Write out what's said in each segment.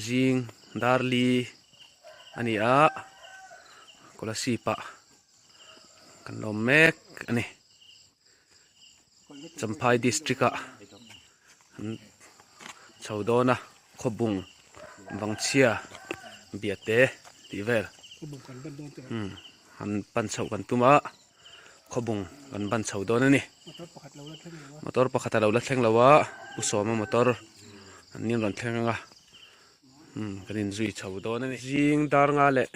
zing darli a ni a scholarship ah kan lawm mek a ni champhai district ah an chho dawn a khawbung vangchhia biate tih vel an pan chhoh kan tum a. khawbung kan ban chho dawn a ni motor pakhat alo la thleng lo a u sawma motor an nih a rawn thleng anga umm kan in zui chho dawn a ni zing dar nga leh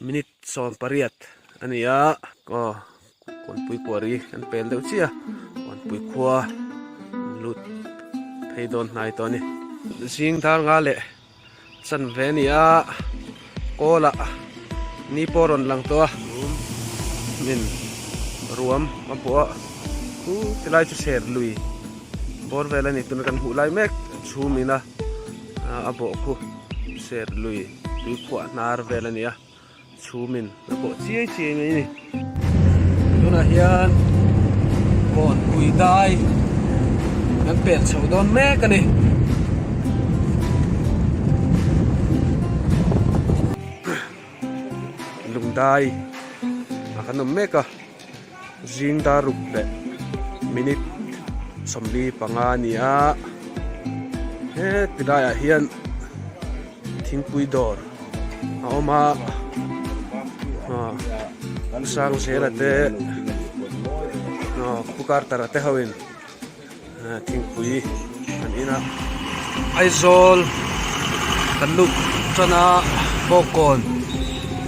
minute sawm pariat a ni a aw kawlpui kuari kan pel deuh chiah a kawlpui khua lut phei dawn hnai tawh a ni zing dar nga leh-- Chanve nia Kawla ni pawh rawn lang tawh a, min ruam a pawh a, u ti lai chu ser lui bawr vel a ni tuna kan hmuh lai mek chhum ina a bawhkhu ser lui tui khuah hnar vel a ni a. Chhum in la bawh chiai chiai mai a ni. Tunah hian phone pui dai kan pek chho dawn mek a ni. Lungdai a kan awm mek a. zing dar ruk leh minute sawmli panga a ni a heti laiah hian thingpui dawr a awm a aw sang zela te aw pukartara te ho in. Thingpui kan in a, Aizawl kan lut atana Bawkawn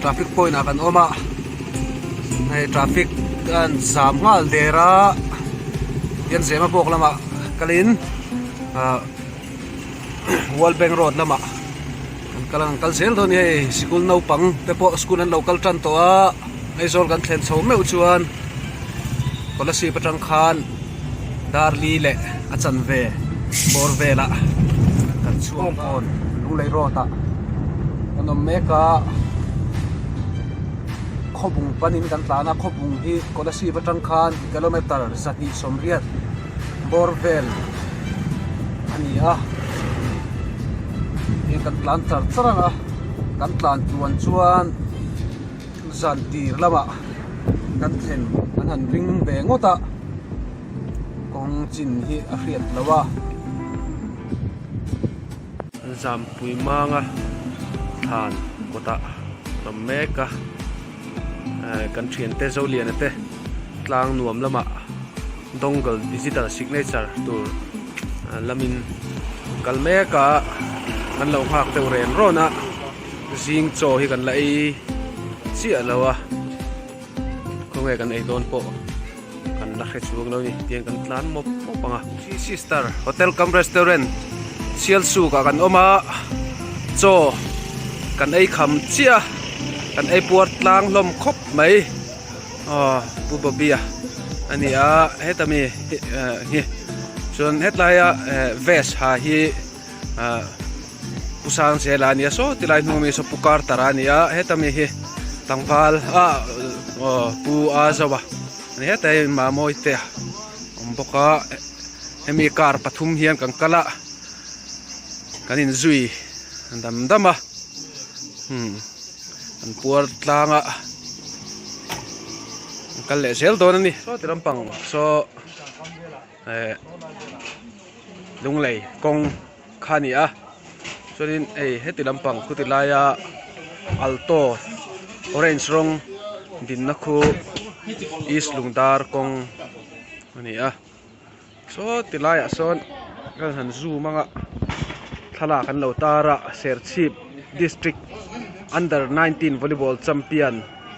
traffic point ah kan awm a, hei traffic a rawn zam nghal der a, Pianzema bawk lamah kalin ahh-- World Bank Road lamah an kal a rawn kal zel dawn a ni hei sikul naupang te pawh school an lo kal tan tawh a aizawl kan thlen chho meuh chuan scholarship atang khan dar li leh a chanve bawr velah kan chhuak dawn Lunglei Road ah kan awm mek a khawbung panin kan tlan a khawbung hi scholarship atang khan kilometre sahnih sawmriat. bawr vel a ni a hei kan tlan char char ang a kan tlan tluan chuan zan tir lamah kan thlen kan han ring ve ngawt a kawng chin hi a hriat loh a zanpui hmanga thlan kawtah a awm mek a. Kan thiante Zoliana te tlang nuam lama Dongle Digital Signature tur lamin kal mek a kan lo nghak deuh ren rawn a, zing chaw hi kan la ei chiah lo a, khawnge kan ei dawn pawh. Kan la hre chuang lo ni tiang kan tlan mawp mawp ang a. Three Sister Hotel kam Restaurant Sial Suk ah kan awm a, chaw kan ei kham chiah a, kan ei puar tlang hlawm khawp mai. Aw Pu Bobby a a ni a, heta mi hi chuan hetlaia vest ha hi, ah pu sangchhiahila a nia saw tilai hnung ami saw pu kartara a nia heta mi hi tlangval ah aw pu azawa a ni heta hi mamawii te a awm bawk a hemi car pathum hian kan kal a kan in zui dam dam a umm kan puar tlang a kan kal leh zel dawn a ni sawti lampang saw. eh lunglei kawng kha a ni a chuanin hei heti lampang khuti laia alto orange rawng dinna khu east lungdar kawng a ni a saw ti laiah sawn kal han zoom anga thlalak an lo tar a serchhip district under nineteen volleyball champion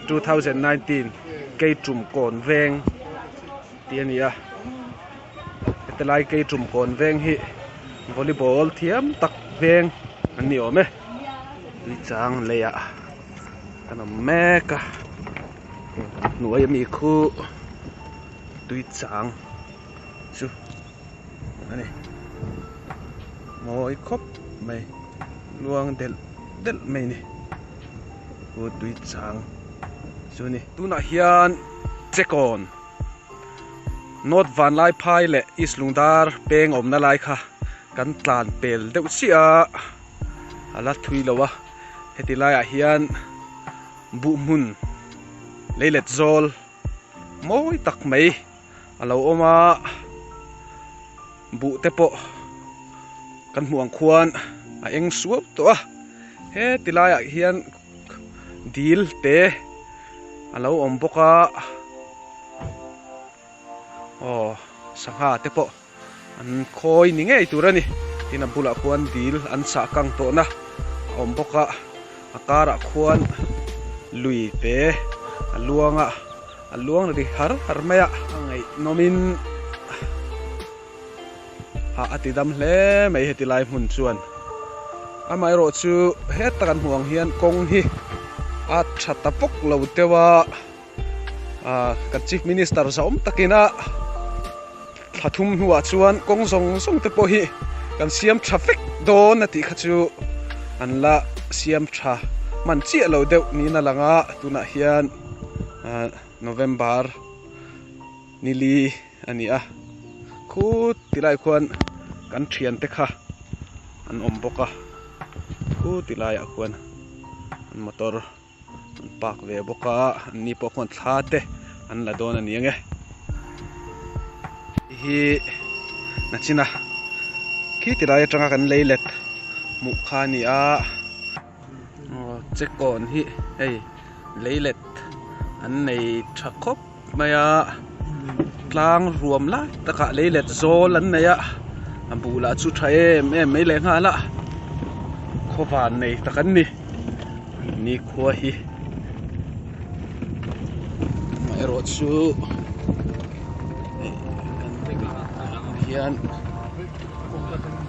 two thousand nineteen keichum kawn veng. Tih a ni a, heti lai kei tum kawn veng hi volleyball thiam tak veng an ni awm e. Tui chang lei ah kan awm mek a, hnuai a mi khu tui chang chu a ni. Mawi khawp mai, luang delh delh mai ni khu tui chang chu a ni. Tunah hian che kawn. North Vanlai phai leh East Lungdar peng awmna lai kha kan tlan pel deuh chiah a, a la thui lo a, heti laiah hian buh hmun lei let zawl mawi tak mai a lo awm a, buh te pawh kan hmuh ang khuan a eng suau tawh a, heti laiah hian. dil te a lo awm bawk a aw sangha te pawh an khawi ni ngei tur a ni tin a bulah khuan dil an sah kang tawh na a awm bawk a a karah khuan lui te a luang a a luang ri har har mai a a ngaihnawm in. a a ti dam hle mai heti lai hmun chuan amaherawh chu heta kan hmuh ang hian kawng hi a tha ta pawk lo teuh a ah kan chief minister zawm takin a thla thum hnuah chuan kawng zawng zawng te pawh hi kan siam tha fek dawn a tih kha chu an la siam tha hman chiah lo deuh niin a lang a tunah hian ah November nili. a ni a, khu ti lai khuan kan thian te kha an awm bawk a, khu ti lai ah khuan an motor an park ve bawk a, an ni pawh khuan thla te an la dawn a ni ang e, hei hi nachina khi ti lai atanga kan lei let hmuh kha a ni a. Aw chekawn hi hei lei let an nei tha khawp mai a tlang ruam lai takah lei let zawl an nei a a buh lah chu tha em em mai leh nghal a khaw van nei tak an ni nikhua hi amaherawh chu hei kan vek lam atang hian.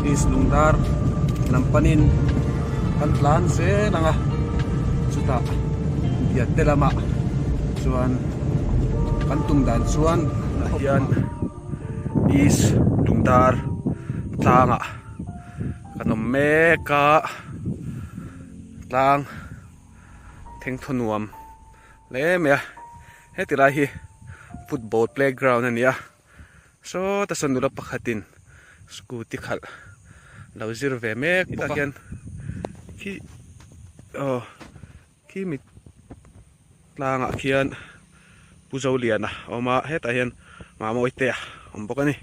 Peace Lungdar lam panin kan tlan zel ang a, chutah Biate lama chuan kan tum dan chuan tunah hian Peace Lungdar tlanga kan awm mek a, tlang thengthaw nuam hle mai a, heti lai hi football playground a ni a. sawta sawn nula pakhatin scooty khalh lo zir ve mek bawk a tah hian khi aw khi mi tlangah khian pu zolian a awm a hetah hian mamawii te a awm bawk a ni.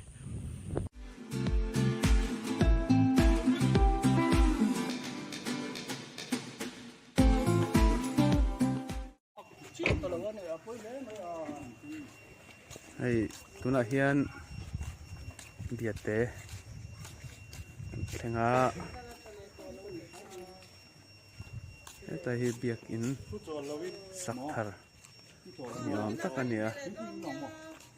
hei tunah hian biate an thleng a heta hi biakin sak thar ni awm tak a ni a.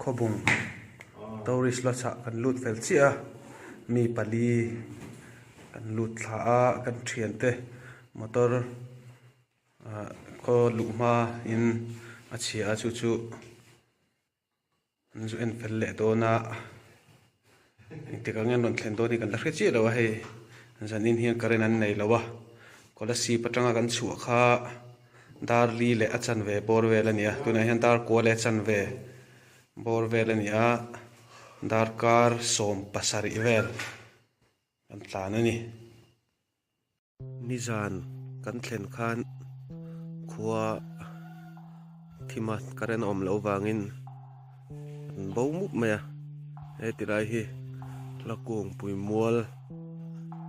Khawbung tourist la chhah kan lut fel chiah a, mi pali kan lut thla a, kan thian te motor ah khaw luh hma in a chhia a chu chu an zu en fel leh dawn a. Engtikah ngen rawn thlen dawn hi kan la hre chiah lo a, hei zanin hian current an nei lo a, khawla sip atanga kan chhuah kha dar li leh a chanve bawr vel a ni a, tunah hian dar kua leh a chanve bawr vel a ni a, dar kar sawm pasarih vel kan tlan a ni. Nizan kan thlen khan khua thim a current a awm loh avangin an bo mup mai a heti lai hi hlakung puimual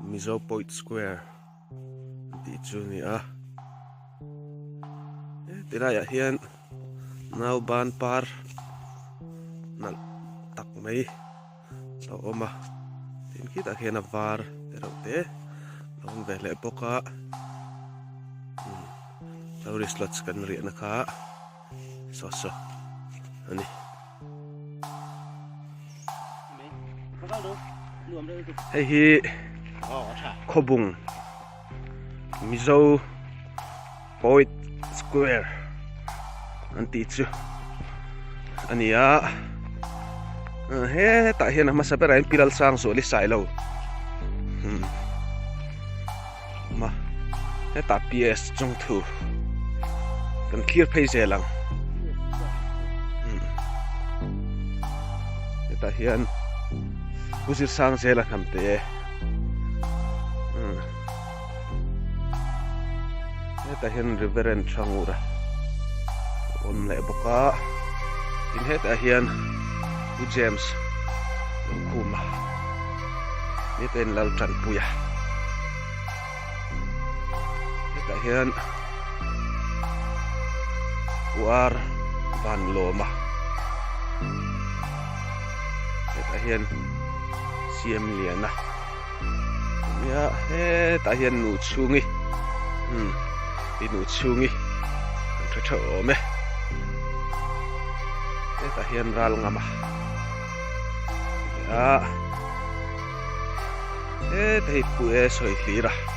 mizo point square tih chu a ni a heti laiah hian nauban par nalh tak mai. lo awm a tin khitah khian a var erawh te lo awm ve hleh bawk a umm tourist lodge kan riahna kha so so a ni hei hi khawbung. Mizo Poet Square an tih chu a ni a hetah hian a hmasa berah hian Piral Sangsuali Sailo hmm awma hetah PS Chungthu kan thlir phei zel ang hmm hetah hian Pu Zirsang Zela Hnamte. hetah hian reverend chhangura awm leh bawk a tin hetah hian pu James Lalkhuma ni te in Laltanpuia hetah hian pu R Vanlawma hetah hian siam lian a nia hetah hian nu chhungi hmm i nu chhungi kan tha tha awm e hetah hian ral ngam a nia hetah hi puiae sawi hlir a.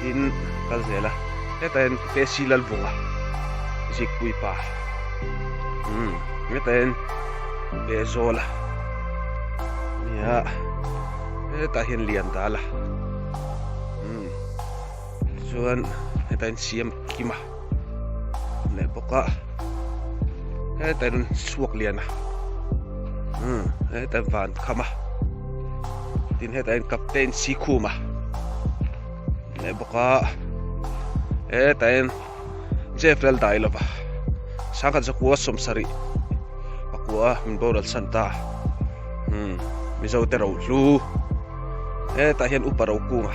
tin kan zel a heta hian pesi lal vung a zikpui pa umm heta hian behzawl a nia heta hian lian dal a umm tichuan heta hian siam kim a. leh bawk a heta in chhuak lian a umm heta in van kham a tin heta in captain sikhum a leh bawk a heta in jfrel dai lo va sangkhat zakua sawmsarih a kua min boral san ta umm mizote rohlu heta hian upa rokunga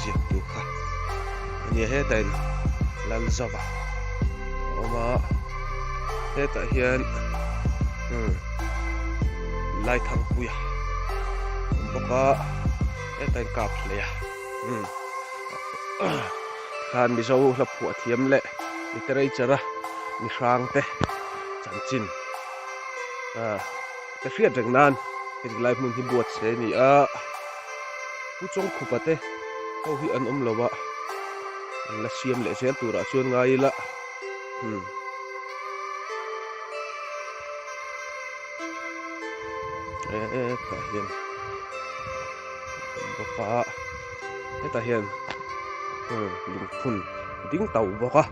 ziak tur kha ania heta in lal zauh a awm a hetah hian hmm lai thangpui a awm bawk a heta in kap hlei a hmm khlan mizo hla phuah thiam leh mi tereichara mi hrang te chanchin ah. ka hriat reng nan heti lai hmun hi buat se ni a pu chawngkhupa te ho hi an awm lo a an la siam leh zel tur ah chuan ngai ila hmm e e ta hian boka e ta hian hmm lungphun ding tauh bawk a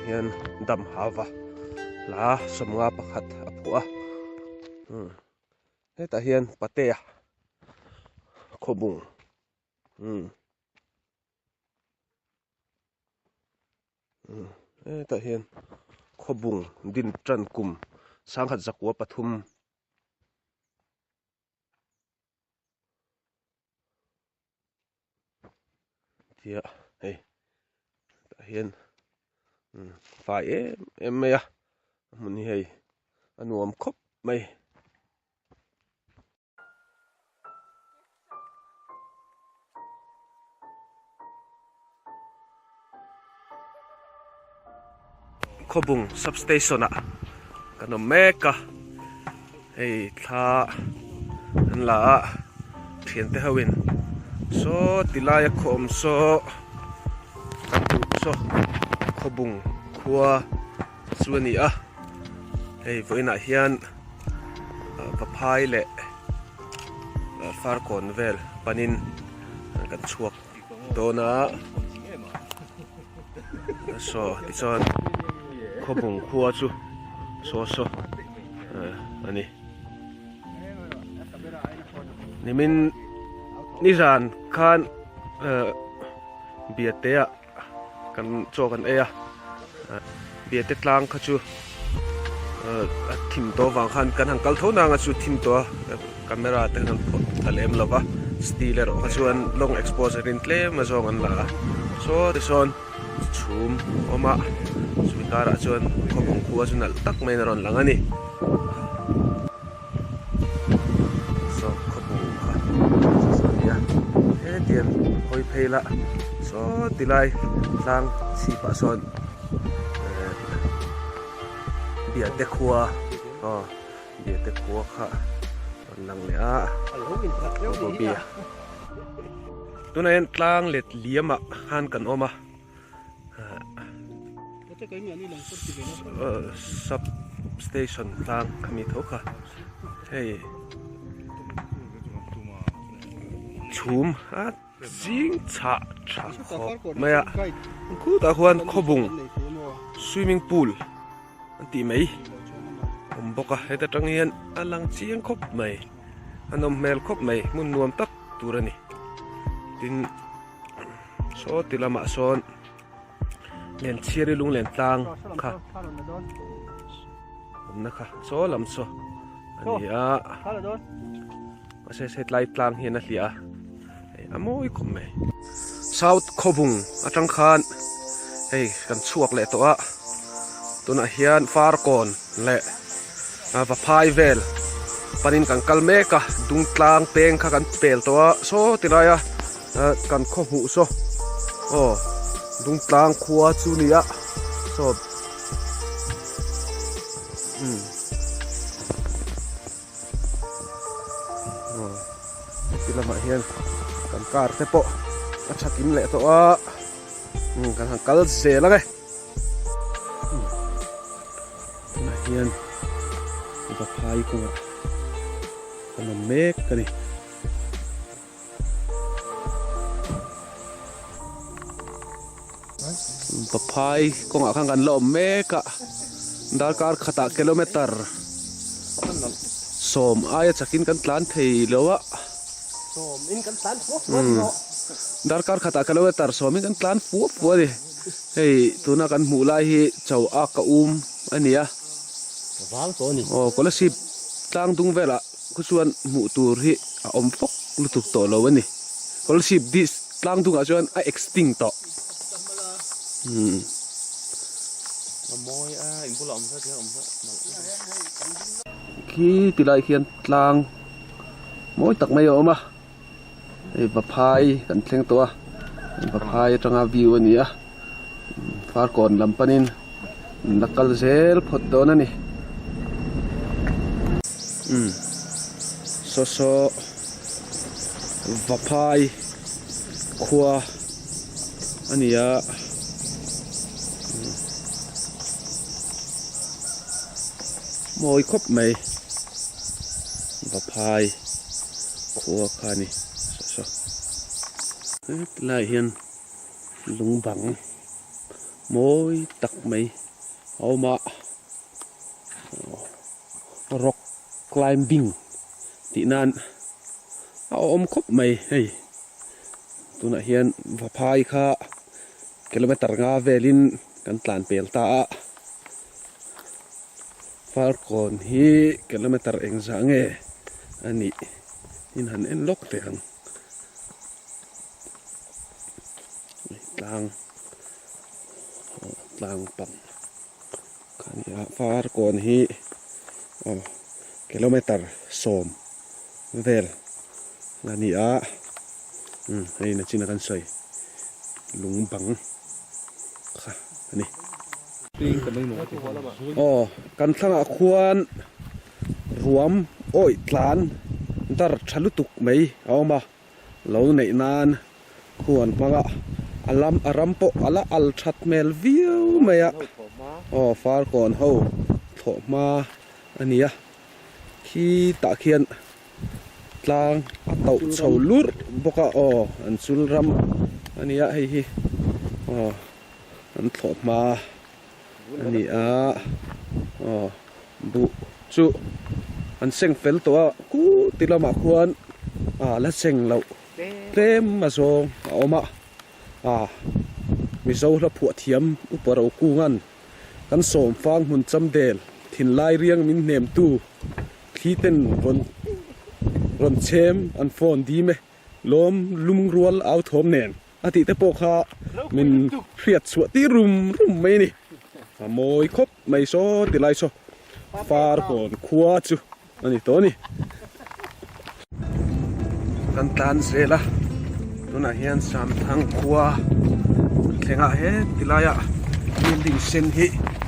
hian dam hava hla sawmnga pakhat a phuh a umm hetah hian patea khawbung umm umm hetah hian khawbung din tan kum sangkhat zakua pathum. tia hei tah hian umm fai em em mai a a hmun hi hei a nuam khawp mai. Khawbung substation ah kan awm mek a, hei thla an la a thiante ho in saw ti lai a khawawm saw kan duh saw khawbung khua. chu a ni a hei vawiinah hian va phai leh far kawn vel panin kan chhuak dawn a saw tichuan khawpung khua chu saw saw a ni nimin nizan khan biate ah-- Kan chaw kan ei a, Biate tlang kha chu a thim tawh vang khan kan han kal tho na anga chu thim tawh a, camera te han phawt ta leh em lo va, steel erawh kha chuan long expose rin tlem a zawng an la a, saw te sawn chhum a awm a, chumi karah chuan khawpawngpua chu nalh tak maiin a rawn lang a ni. Saw khawbu kha chu chu a nia hetiang hawi phei la saw ti lai tlang chhip ah sawn eh biate khua aw biate khua kha rawn lang leh a tunah hian tlang let liam ah khan kan awm a. sub station tlang a ni tho kha hei chhum a zing chhah tha khawp mai a khutah khuan khawbung swimming pool a tih mai a awm bawk a heta tang hian a lang chiang khawp mai a nawm hmel khawp mai hmun nuam tak tur a ni tin-- Saw ti lamah sawn Lenchhiari Lunglentlâng kha awmna kha saw lam saw a ni a. Mahse se tlai tlang hian a hliah a, hei a mawi khawp mai. South khawvung atang khan hei kan chhuak leh tawh a, tunah hian Farkawn leh va phai vel panin kan kal mek a, Dungtlang peng kha kan pel tawh a saw ti laia. Ahh kan khaw hmuh saw aw Dungtlang khua chu nia saw umm aw heti lamah hian kan car te pawh a chhak in leh tawh a umm kan han kal zel ang e umm tunah hian vaphai kawngah kan awm mek a ni. pa phai kawngah khan kan la awm mek a darkar khatah kilometer sawm aia chakin kan tlan thei lo a darkar khatah kilometer sawmin kan tlan fuah fuah a ni hei tuna kan hmuh lai hi cho ak a um a ni a aw khawlaib tlang dung velah. Ka chuan hmuh tur hi a awm fawk lutuk tawh lo a ni. Scholarship dis tlang dungah chuan a extinct tawh. Khi tilai khian tlang mawi tak mai a awm a. hei vaphai kan thleng tawh a vaphai atanga view a ni a farkawn lam panin la kal zel phawt dawn a ni umm saw saw vaphai khua a ni a mawi khawp mai. va phai khua kha ni sa sa. Heti lai hian lung bang mawi tak mai a awm a, rock climbing tih nan a awm khawp mai hei, tunah hian va phai kha kilometre nga velin kan tlan pel ta a. Falkawn hi kilometer eng zah nge a nih in han en lawk teh ang tlang aw tlang pang a ni a Falkawn hi aw kilometer sawm. vel la ni a umm hei ina chin a kan sawi lung bang kha a ni aw kan thlangah khuan ruam awih tlan dar tha lutuk mai a awm a. lo neih nan huan hmanga a lam a ram pawh a la al that hmel viau mai a aw far kawn ho thawh hma a nia khi tah khian tlang a tauh chho lurh bawk a aw an chul ram a nia hei hi aw an thawh hma a. a ni a aw buh chu an seng fel tawh a khu ti lamah khuan ah la seng loh tlem a zawng a awm a ah mizo hla phuah thiam upa ro kunga'n kan sawm fang hmun cham del thin lai riang min hnem tu thli ten rawn rawn chhem an fawn dim e lawm lum rual au thawm nen. A tih te pawh kha min hriat chhuah tir rum rum mai a ni. A mawi khawp mai saw ti lai saw Farhawn khua chu a ni tawh a ni. Kan tlan zel a, tunah hian Samthang khua thlengah he ti laia building sen hi.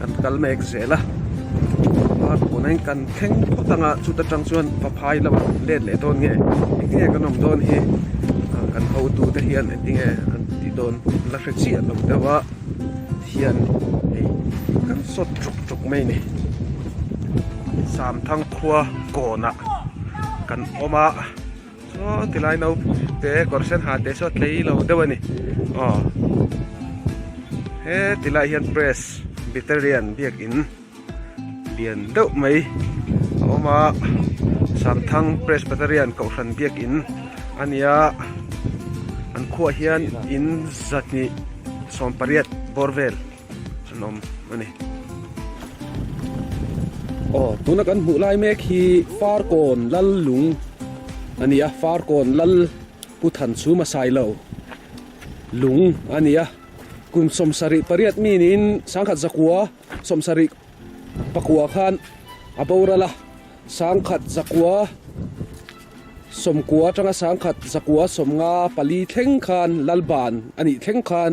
kan kal mek zel a a pawn a in kan thleng phawt ang a chuta tang chuan va phai lo a let leh dawn nge engtin nge kan awm dawn hi a kan hotu te hian engtin nge an ti dawn la hre chiah lo deuh a thian hei kan sawt tuk tuk mai ni samthang khua kawnah kan awm a. Aw ti lai naute kawr sen ha te saw tlei lo deuh a ni aw he ti lai hian press beterian biak in lian deuh mai a awm a sang thang press beterian kohhran biak in a ni a an khuah hian in zahnih sawmpariat bawr vel. an awm a ni. Aw, tuna kan hmuh lai mek hi Farkawn lal lung a ni a, Farkawn lal Pu Than Chu Masailo lung a ni a. Kun sawmsarih pariat min in Sangkhat Zakua sawmsarih pakua khan a boral a, Sangkhat Zakua sawmkua atanga Sangkhat Zakua sawmnga pali thleng khan lal ban a nih thleng khan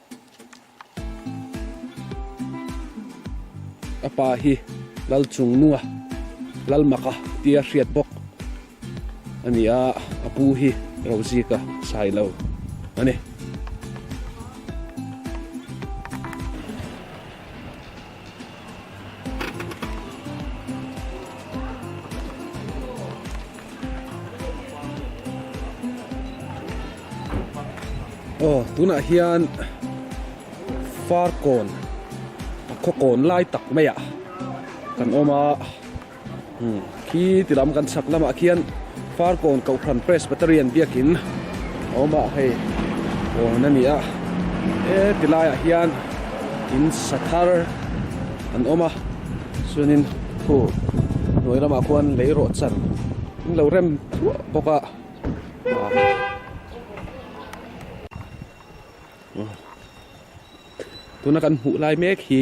A pa hi lal chung nunga lal mak a ti a hriat bawk a ni a, a pu hi ro zik a sai lo a ni. Aw tunah hian far kawn a khaw kawn lai tak mai ah kan awm a. Khi ti lam kan chhak lamah khian Farkawn Kohhran Presbyterian biakin a awm a, hei pawn a ni a. He ti laiah hian in sa thar an awm a, chuanin khu hnuai lamah khuan lei rawh chan in lo rem thuah bawk a. Tuna kan hmuh lai mek hi.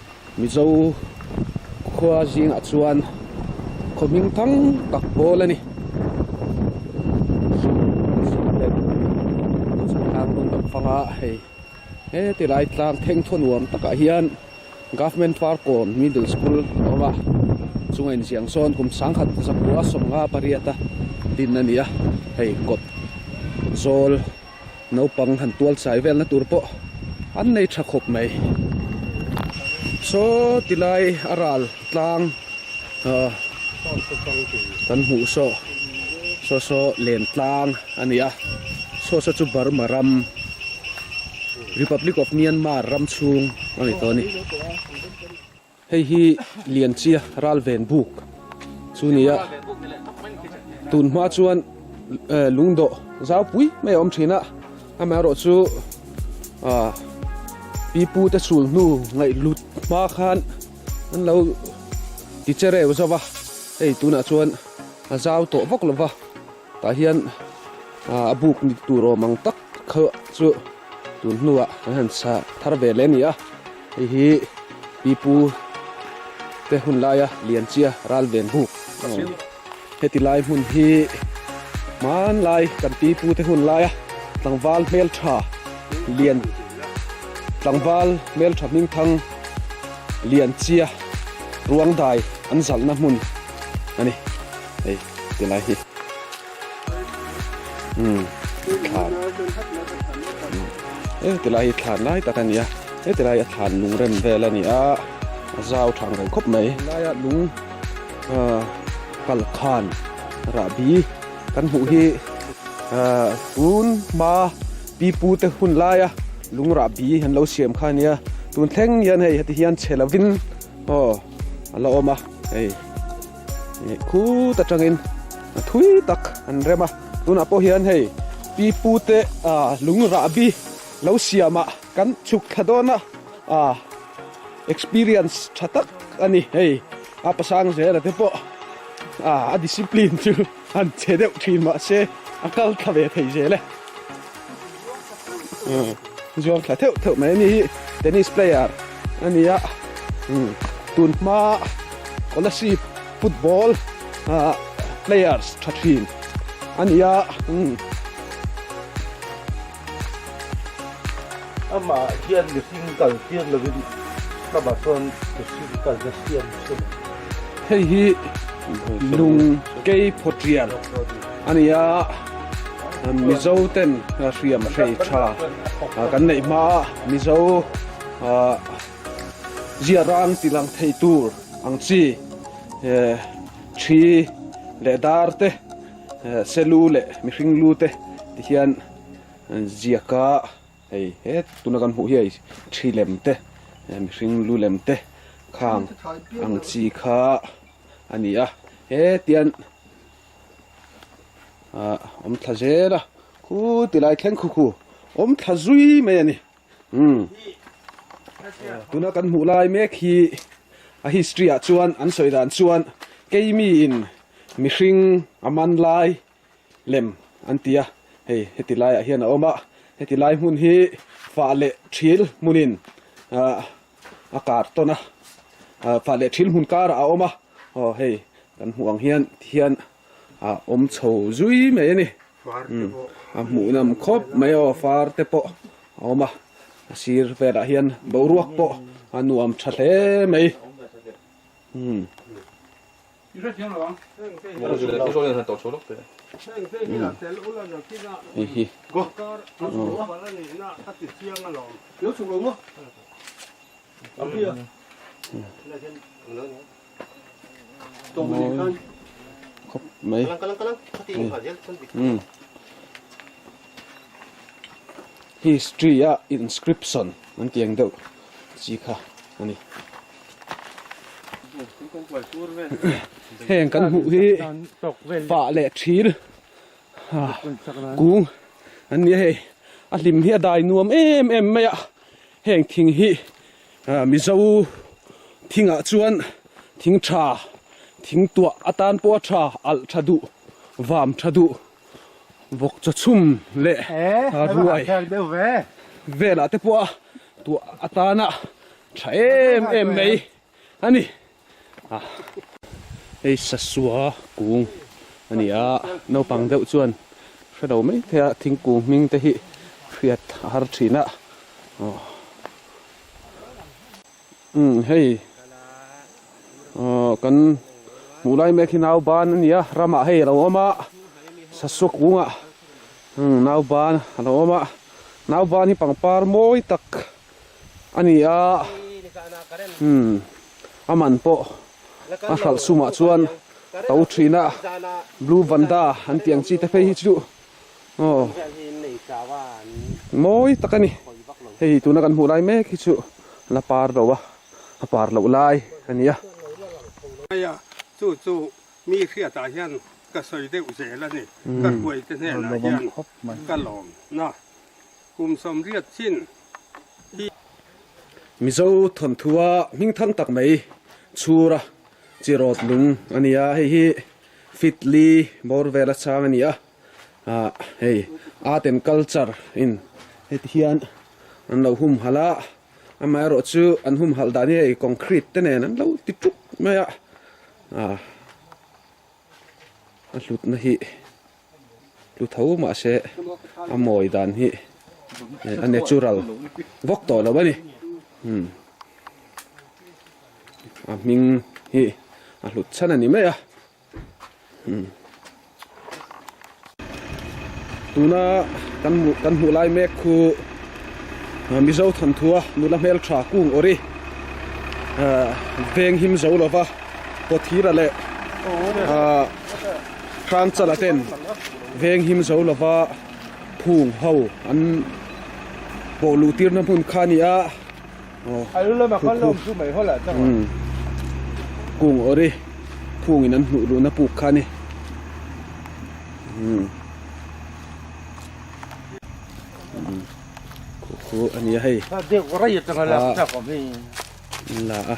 Mizo khua zingah chuan khawhming thang tak pawl a ni. Chhungthang rawng dang fanga hei heti lai tlang thengthaw nuam takah hian Government Parkawm Middle School a awm a, chunga inziak zawn kum sangkhat zakua sawmnga pariata din a ni a, hei kawt zawl. naupang han tual chai velna tur pawh an nei tha khawp mai saw ti lai a ral tlang ah kan hmuh saw saw saw len tlang a ni a saw saw chu Burma ram Republic of Myanmar ram chhung a ni tawh a ni. Hei hi Lianchia Ralven Buk chu ni a, tun hma chuan lungdawh zaupui mai a awm thin a, amaherawh chu pipu te chul hnu ngaihhlut hma khan an lo ti che reu zauh a, hei tunah chuan a zau tawh vak lova. Tah hian a buk ni duh tur awm ang tak kha chu tun hnua kan han chhah thar ve leh nia hei hi pipu te hun laia lianchia ral ven buk a ni heti lai hmun hi hmanlai kan pipu te hun laia tlangval hmeltha lian tlangval hmeltha hming thang lianchia ruangdai an zalhna hmun a ni. Tilai hi. Hmm. Thlan. Eh, tilai hi thlan lai tak ania. Eh, tilai a thlan lung rem vel ania. Zau thang reng khop mai. Lai a lung uh, kal khan ra bi kan hmuh hi uh, tun ma pi pu te hun lai a lung ra bi han lo siam khan ania. Tun thleng hian hei hati hian chelavin oh ala oma hei khut atangin a thui tak an rem a tunah pawh hian hei pi pu te ah lungrahbi lo siamah kan chhuk thla dawn a ah experience tha tak a ni hei a pasang zela te pawh ah a discipline chu-- An che deuh thin mahse a kal thla ve thei zel e. Umm, zuang thla theuh theuh mai. Ani hi tennis player a ni a. Umm, tun hma scholarship football ah players tha thin a ni a. Umm. Amah hian mihring kal tir lovin hlama chuan mihring kal na siam se lo. Hei hi lung kei phaw tial a ni a, Mizo ten hriam hrei tha kan neih hma a, Mizo zia rang tilang thei tur ang chi, thi leh dar te, Selu leh mihring lu te ti hian ziaka hei he tuna kan hmuh hi hei thi lem te mihring lu lem te khang ang chi kha a ni a hetian ah awm thla zel a khû ti lai thleng khu khu awm thla zui mai a ni. Tuna kan hmuh lai mek hi a history ah chuan an sawi dan chuan keimi in mihring a man lai lem an ti a, hei heti laiah hian a awm a, heti lai hmun hi fah leh thil hmun in a kar tawn a, fah leh thil hmun karah a awm a, aw hei kan hmuh ang hian ti hian. a awm chho zui mai a ni a hmuhnam khawp mai aw far te pawh a awm a a sir velah hian boruak pawh a nuam tha hle mai hei hi. History a inscription an tih ang deuh chi kha a ni. Heng kan hmuh hi fa leh thil kung an ni a hei. A hlim hi a dai nuam em em mai a. Heng thing hi-- Mizo thingah chuan thing tha, thing tuah atan pawha tha, alh tha duh, vam tha duh, vawk chaw chhum leh ruai velah te pawha tuah atana tha em em mai a ni. a hei sasua kung a ni a naupang deuh chuan hre lo mai thei a thingkung hming te hi hriat a har thin a aw umm hei aw kan hmuh lai mek hi nau ban a ni a ram ah hei a lo awm a sasua kung ah umm nau ban a lo awm a nau ban hi pangpar mawi tak. a ni a, umm a man pawh a hralh sumah chuan to thina blue vanda an tih ang chi te phei hi chu aw mawi tak a ni, hei tuna kan hmuh lai mek hi chu la par lo a, a par loh lai a ni a. Hmaya chu chu mi hriatah hian ka sawi deuh zel a ni, ka hruaite hnenah hian ka lawm na. Kum sawmriat chin hi. Mizo thawnthuwa hmingthang tak mai chhura chi rawt lung a ni a, hei hi Fitli bawr vela chang a ni a, ah hei Art and Culture in heti hian an lo hum halh a, amaherawh chu an hum halh dan hi hei concrete te nen an lo ti ṭuk mai a, ah a hlutna hi. hlu tho mahse a mawi dan hi a natural vawk tawh lo a ni umm a hming hi a hlut chhan a ni mai a umm tuna kan hmuh kan hmuh lai mek khu mizo thanthua nula hmeltha kung awri veng him zo lova kawthira leh ahh Hrangchala ten veng him zo lova phung ho an pawh luh tirna hmun kha a ni a. Kung awri phungin an hnuh luhna puk kha a ni. Khukhu a nia hei. Kha an la a.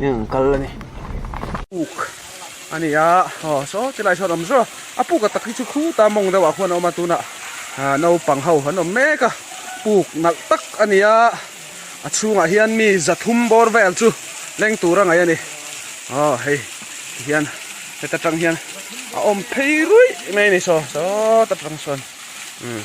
in an kal a ni. Puk a ni a, aw saw tilai sawn awm zawk a, a puk a tak hi chu khu ta mawng deuhah khuan a awm a, tunah naupang ho an awm mek a, puk nalh tak a ni a, a chhungah hian mi zathum bawr vel chu leng tur a ngaih a ni, aw hei ti hian heta tang hian a awm phei ruih mai a ni saw, saw ta tang chuan umm.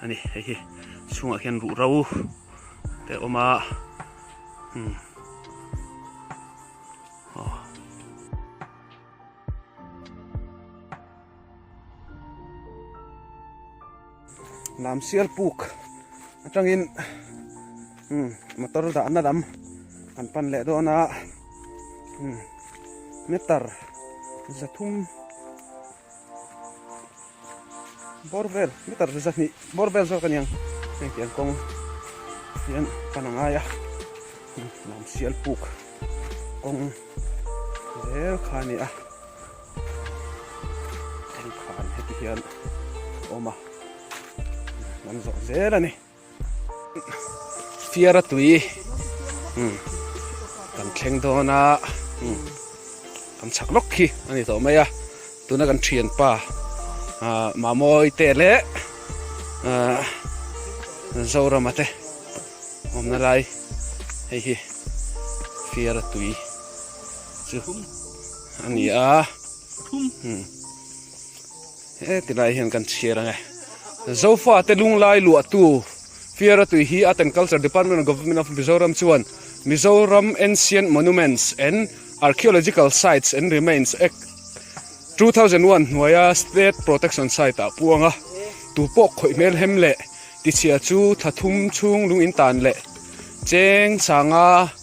a ni hei hi chhungah hian ruhro te a awm a umm aw lam sial puk atangin umm motor dahna lam an pan leh dawn a umm meter za thum-- Bawr vel meter riza hnih bawr vel zawk a niang heng tiang kawng hian ka na ngai a hnam sial puk kawng zel kha a ni a kawngkhar hetihian a awm a hnam zawk zel a ni. Fiar a tui umm kan thleng dawn a umm kan chak lawk khi a ni tawh mai a tuna kan thianpa ah Mamawi te leh ah Zorama te awmna lai hei hi fiar a tui chu a ni a umm. He ti lai hian kan chhiar ang e. Zofa te lunglai luahtu Fiara Tui hi Art and Culture Department of Government of Mizoram chuan Mizoram Ancient Monuments and Archaeological Sites and Remains Act two thousand one hnuaia State Protection Site ah pu ang a. Tu pawh khawih hmel hem leh tichhia chu thlathum chhung lungin tan leh cheng sanga,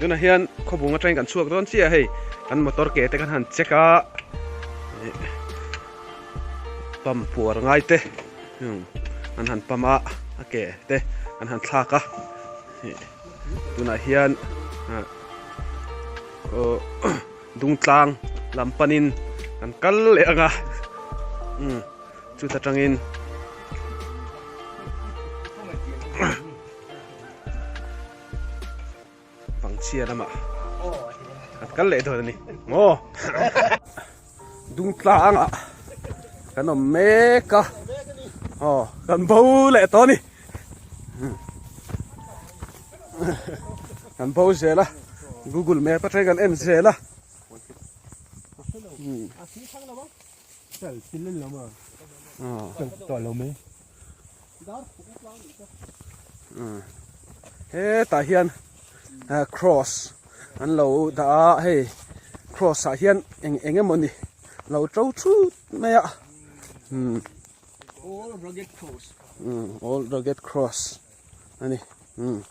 tunah hian khawbung atang kan chhuak dawn chiaha hei kan motor ke te kan han check a pump puar ngai te an han pump a a ke te an han thlak a tunah hian ahh aw-- Dungtlang lam panin kan kal leh ang a, umm chuta tangin Pangchhia lamah kan kal leh dawn a ni maw? Dungtlangah kan awm mek a, aw kan bo leh tawh a ni. kan bo zel a google map atang kan en zel a he ta hian cross an lo da a hei cross ah hian eng eng emaw ni lo to thut mai a all rugged cross. ani umm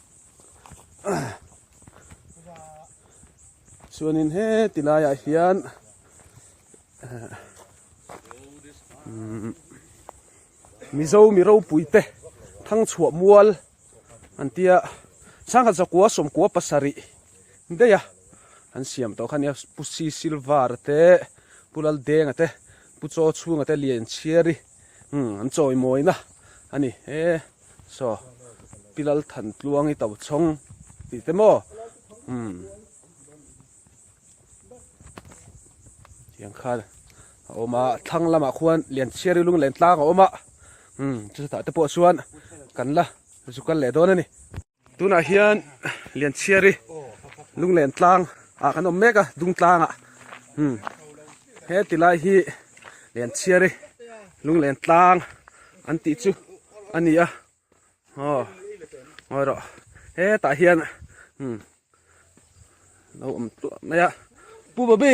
chuanin he ti laiah hian eh, umm mizo mi ropui te thang chhuah mual an tia sangha zakua sawmkua pasarih deia an siam tawh khania pu si silver te pu lal denga te pu chaw chhunga te lian chhiari umm an chawi mawina ani he Chaw, Pi Lalthan tluangi to chhawng ti te maw? Umm. Tiang khan a awm a, thlang lamah khuan Lianchhiari lunglentlang a awm a, umm, chutah te pawh chuan kan la zu kal leh dawn a ni. Tunah hian Lianchhiari lunglen tlang ah kan awm mek a, Dungtlang ah. Hmm. He ti lai hi Lianchhiari lunglen tlang an tih chu a ni a. Aw, ngawi rawh. He tah hian, hmm, lo awm tluah mai a. Pu Babi!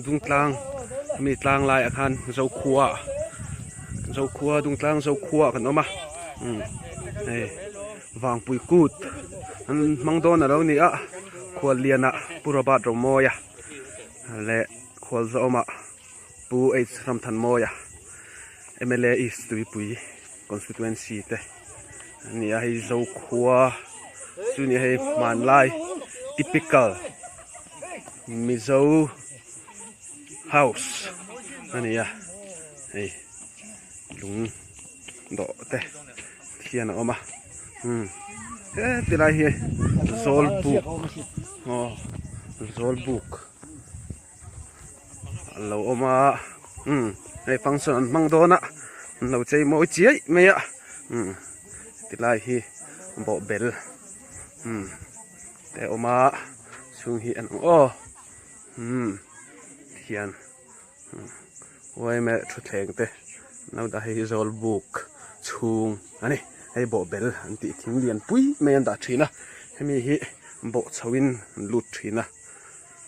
Dungtlang ami tlang lai ah khan Zokhua Zokhua Dungtlang Zokhua kan awm a hei Vangpui kut an hmang dawn a lo ni a Khualliana Pu Robert Rawmawia leh Khualzawma Pu H Ramthanmawia M L A East Tuipui. constituency te an ni a hei zokhua chu nia hei hmanlai typical mizo house a ni a hei lung dawh te khian a awm a umm he ti lai hi zawlbuk aw zawlbuk. An lo awm a umm hei function an hmang dawn a an lo chei mawi chiai mai a umm heti lai hi bawhbel umm te a awm a chhung hi a nung aww umm khian umm uai meh thutthleng te naudah hei hi zawl buk chhung a ni hei bawhbel an tih thing lian pui mai an dah thin a hemi hi bawhchhoh in an lut thin a.